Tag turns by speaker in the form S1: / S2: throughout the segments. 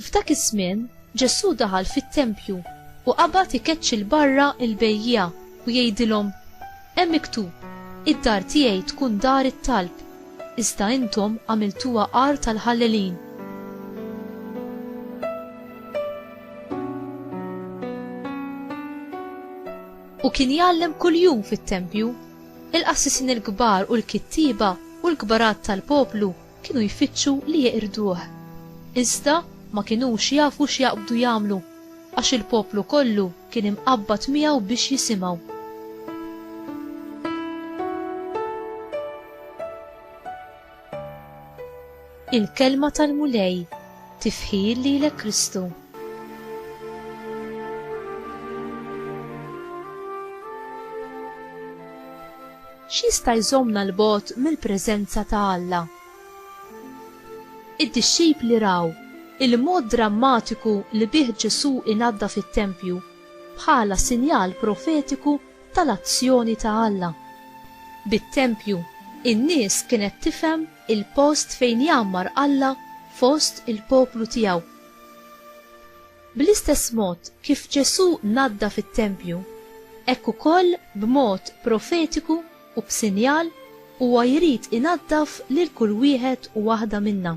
S1: F'dak iż-żmien, Ġesù daħal fit-tempju u qabad ikeċċi l-barra l-bejjiegħa u jgħidilhom, Hemm miktub, id-dar tiegħi tkun dar it-talb, iżda intom għamiltuha għar tal-ħallelin. U kien jgħallem kuljum fit-tempju. Il-qassisin il-kbar u l-kittieba u l-kbarat tal-poplu kienu jfittxu li jeqirduh. Iżda ma kinux jafu x'jaqbdu jagħmlu, għax il-poplu kollu kien imqabbad miegħu biex jisimgħu. Il-Kelma tal-Mulej, Tifħir lilek Kristu. X'jista' jżommna 'l bogħod mill-preżenza ta' Alla? Id-dixxipli raw il-mod drammatiku li bih Ġesù inaddaf it-tempju bħala sinjal profetiku tal-azzjoni ta' Alla. Bit-tempju, in-nies kienet tifhem il-post fejn jgħammar Alla fost il-poplu tiegħu. Bl-istess mod kif Ġesù naddaf it-tempju, hekk ukoll b'mod profetiku u b'sinjal huwa jrid inaddaf lil kull wieħed u waħda minna.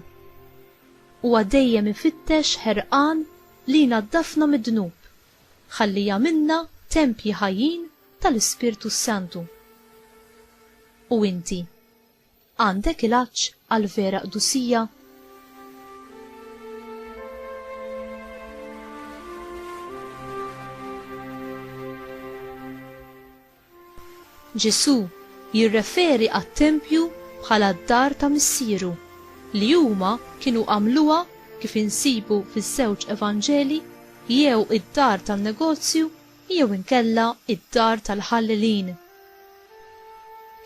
S1: Huwa dejjem ifittex ħerqan li jnaddafna mid-dnub. Ħalli jagħmilna tempji ħajjin tal-Ispirtu s-Santu. U inti? Għandek il-għatx għall-vera qdusija? Ġesù jirreferi għat-tempju bħala d-dar ta' Missieru, li huma kienu għamluha, kif insibu fiż-żewġ Evanġelji, jew id-dar tan-negozju jew inkella d-dar tal-ħallelin.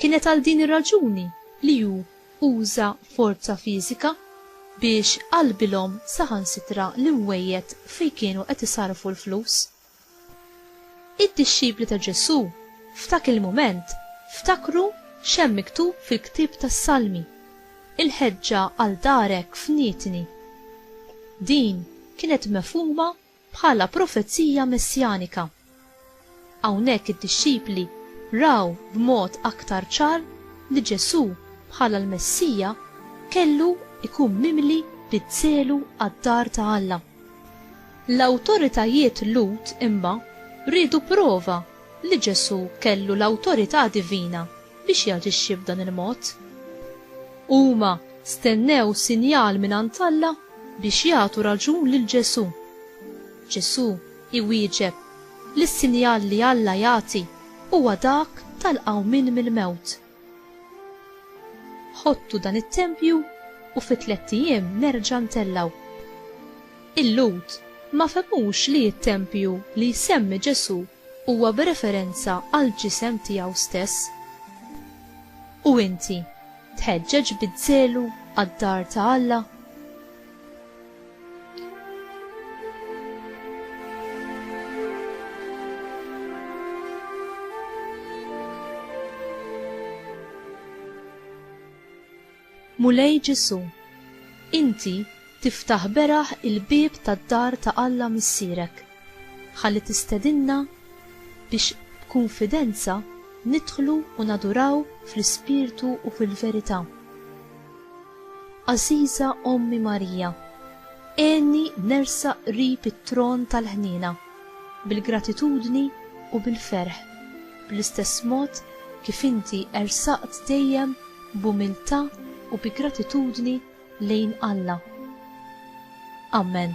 S1: Kienet għal din ir-raġuni li hu uża forza fiżika biex qalbilhom saħansitra l-imwejjed fejn kienu qed isarrfu l-flus. Id-dixxipli ta' Ġesù f'dak il-mument ftakru x'hemm miktub fil-ktieb tas-Salmi, Il-ħeġġa għal darek fnitni. Din kienet mefhuma bħala profezija messjanika. Hawnhekk id-dixxipli raw b'mod aktar ċar li Ġesù bħala l-Messija kellu jkun mimli bid-żelu għad-dar ta' Alla. L-awtoritajiet Lhud imma riedu prova li Ġesù kellu l-awtorità divina biex jaġixxi b'dan il-mod. Huma stennew sinjal mingħand Alla biex jagħtu raġun lil Ġesù. Ġesù iwieġeb li s-sinjal li Alla jagħti huwa dak tal-qawmien mill-mewt. Ħottu dan it-tempju u fi tlett ijiem nerġa' ntellgħu. Il-Lhud ma fehmux li t-tempju li jsemmi Ġesù huwa b'referenza għall-ġisem tiegħu stess. U inti tħeġġeġ biż-żelu għad-dar ta' Alla? Mulej Ġesù, inti tiftaħ beraħ il-bieb tad-dar ta' Alla Missierek ħalli tistedinna biex b'kunfidenza nidħlu u naduraw fl-ispirtu u fil-verità. Għażiża Ommi Marija, għenni nersaq qrib it-tron tal-ħniena, bil-gratitudni u bil-ferħ, bl-istess mod kif inti ersaqt dejjem b'umiltà u bi gratitudni lejn Alla. Amen.